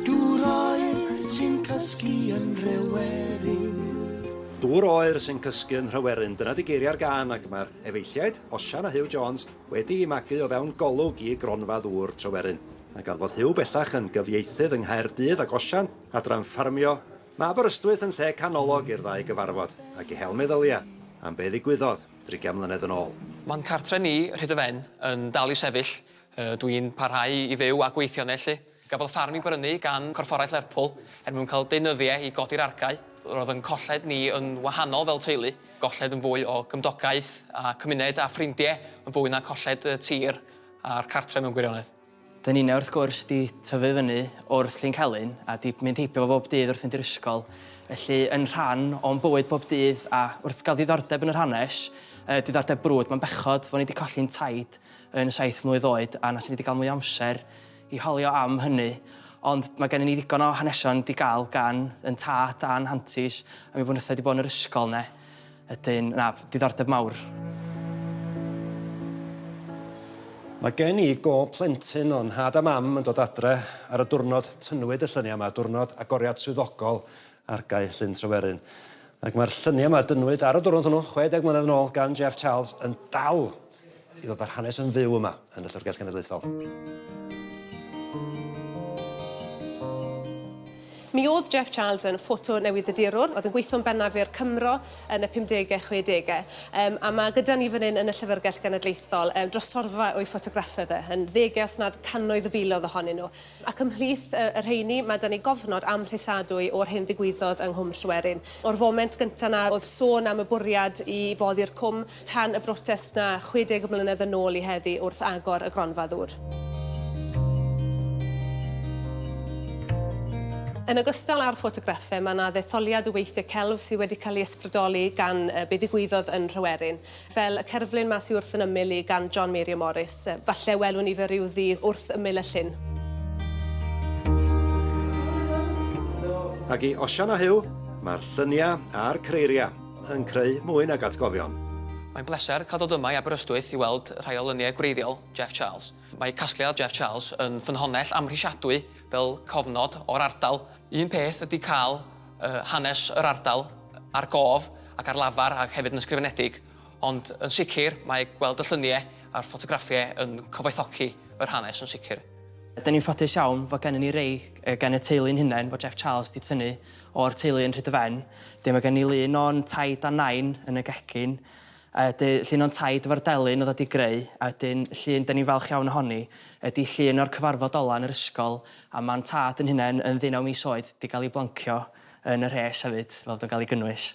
Dŵr oer sy'n cysgu yn Nhryweryn. Dŵr oer sy'n cysgu yn Nhryweryn, dyna 'di geiriau'r gân ac mae'r efeilliaid, Osian a Huw Jones, wedi'u magu o fewn Golwg i Gronfa Ddŵr Tryweryn. A gan fod Huw bellach yn gyfieithydd yng Nghaerdydd ac Osian adran ffarmio, mae Aberystwyth yn lle canolog i'r ddau gyfarfod ac i hel meddylia am be ddigwyddodd drigian mlynedd yn ôl. Mae'n cartre ni, Rhydyfen, yn dal i sefyll Ydw i'n parhau i fyw a gweithio yno felly? Gafodd ffarm ei brynu gan Gorfforaeth Lerpwl er mwyn cael deunyddiau i godi'r argae. Roedd ein colled ni yn wahanol fel teulu, golled yn fwy o gymdogaeth a cymuned a ffrindiau yn fwy na colled y tir a'r cartref mewn gwirionedd. Dŷn ninnau wrth gwrs 'di tyfu fyny wrth Llyn Celyn a 'di mynd heibio fo bob dydd wrth fynd i'r ysgol, felly yn rhan o'n bywyd bob dydd a wrth gael diddordeb yn yr hanes, yy diddordeb brwd, mae'n bechod fod ni 'di colli'n taid yn saith mlwydd oed a na swn i 'di gael mwy o amser i hawlio am hynny ond mae gennym ni ddigon o hanesion wedi gael gan yn tad a'n hantis a mi wnaethai wedi bod yn yr ysgol ne ydyn na diddordeb mawr. Mae gen i gob plentyn o'n nhad a mam yn dod adre ar y diwrnod tynnwyd y lluniau yma, diwrnod agoriad swyddogol Argae Llyn Tryweryn. Ac mae'r lluniau yma dynnwyd ar y diwrnod hwnnw 60 mlynedd yn ôl gan Jeff Charles yn dal i ddod â'r hanes yn fyw yma yn y Llyfrgell Genedlaethol. Mi oedd Jeff Charles yn ffoto newydddydurwr, oedd yn gweithio'n bennaf i'r Cymro yn y 50au, 60au, um, a mae gyda ni fan hyn yn y Llyfrgell Genedlaethol um, drosorfa o'i ffotograffau fe, yn ddeg os nad cannoedd o filoedd ohonyn nhw. Ac ymhlith uh, y rheini, mae da ni gofnod amhrisadwy o'r hyn ddigwyddodd yng Nghwm Llwerin. O'r foment gyntaf na oedd sôn am y bwriad i foddi'r cwm, tan y brotest 'na 60 o mlynedd yn ôl i heddi wrth agor y gronfa ddŵr. Yn ogystal â'r ffotograffau, mae yna ddetholiad o weithiau celf sydd wedi cael ei ysbrydoli gan be ddigwyddodd yn Rhywerin, fel y cerflun yma sydd wrth yn ymyl i gan John Mary o Morris. Falle welwn ni fe ryw ddydd wrth ymyl y llyn. Ac i Osian a Huw, mae'r lluniau a'r creiriau. yn creu mwy nag atgofion. Mae'n bleser cael dod yma i Aberystwyth i weld rhai o luniau gwreiddiol Jeff Charles. Mae casgliad Jeff Charles yn ffynhonnell amhrisiadwy fel cofnod o'r ardal. Un peth ydy cael yy hanes yr ardal ar gof ac ar lafar ac hefyd yn ysgrifenedig, ond yn sicr mae gweld y lluniau a'r ffotograffiau yn cyfoethogi yr hanes yn sicr. Ydyn ni'n ffodus iawn fod gennym ni rai gan y teulu'n hunain fod Jeff Charles 'di tynnu o'r teulu yn Rhydyfen. Dyn mae gen ni lun o'n taid a nain yn y gegin. A ydy llun o'n taid efo'r delyn oedd wedi greu. A ydyn llun dyn ni'n falch iawn ohoni ydy llun o'r cyfarfod ola yn yr ysgol a mam tad yn hunain yn ddeunaw mis oed wedi cael ei blancio yn y rhes hefyd fel bod o'n cael ei gynnwys.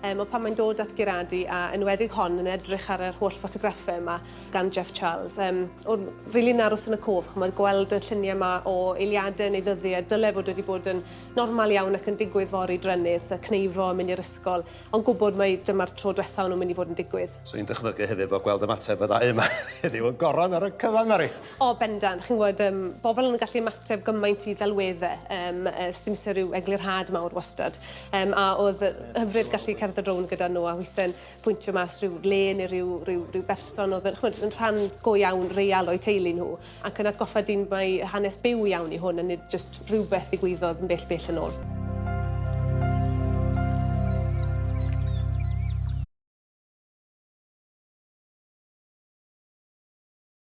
Um, ond pan mae'n dod at Gerardi, a enwedig hon yn edrych ar yr holl ffotograffau yma gan Jeff Charles, um, o'n rili yn aros yn y cof, chymod, gweld y lluniau yma o eiliadau neu ddyddiau, dyle fod wedi bod yn normal iawn ac yn digwydd fori drennydd, y cneifo yn mynd i'r ysgol, ond gwybod mae dyma'r tro diwethaf o'n nhw'n mynd i fod yn digwydd. So i'n dychmygu hefyd bod gweld ymateb y ddau yma heddiw yn goron ar y cyfan, Mari. O, bendant. Chi'n gwybod, yym, bobl yn gallu ymateb gymaint i ddelwedde, yym, yy, sdim isie rhyw eglurhad mawr wastad. Yym, a oedd yy hyfryd gallu cerdded rownd gyda nhw a weithie'n pwyntio mas rhyw le neu rhyw, rhyw, rhyw berson oedd yn, chimod, yn rhan go iawn, real o'u teulu nhw. Ac yn atgoffa dyn mai hanes byw iawn yw hwn a nid jyst rhywbeth ddigwyddodd yn bell, bell yn ôl.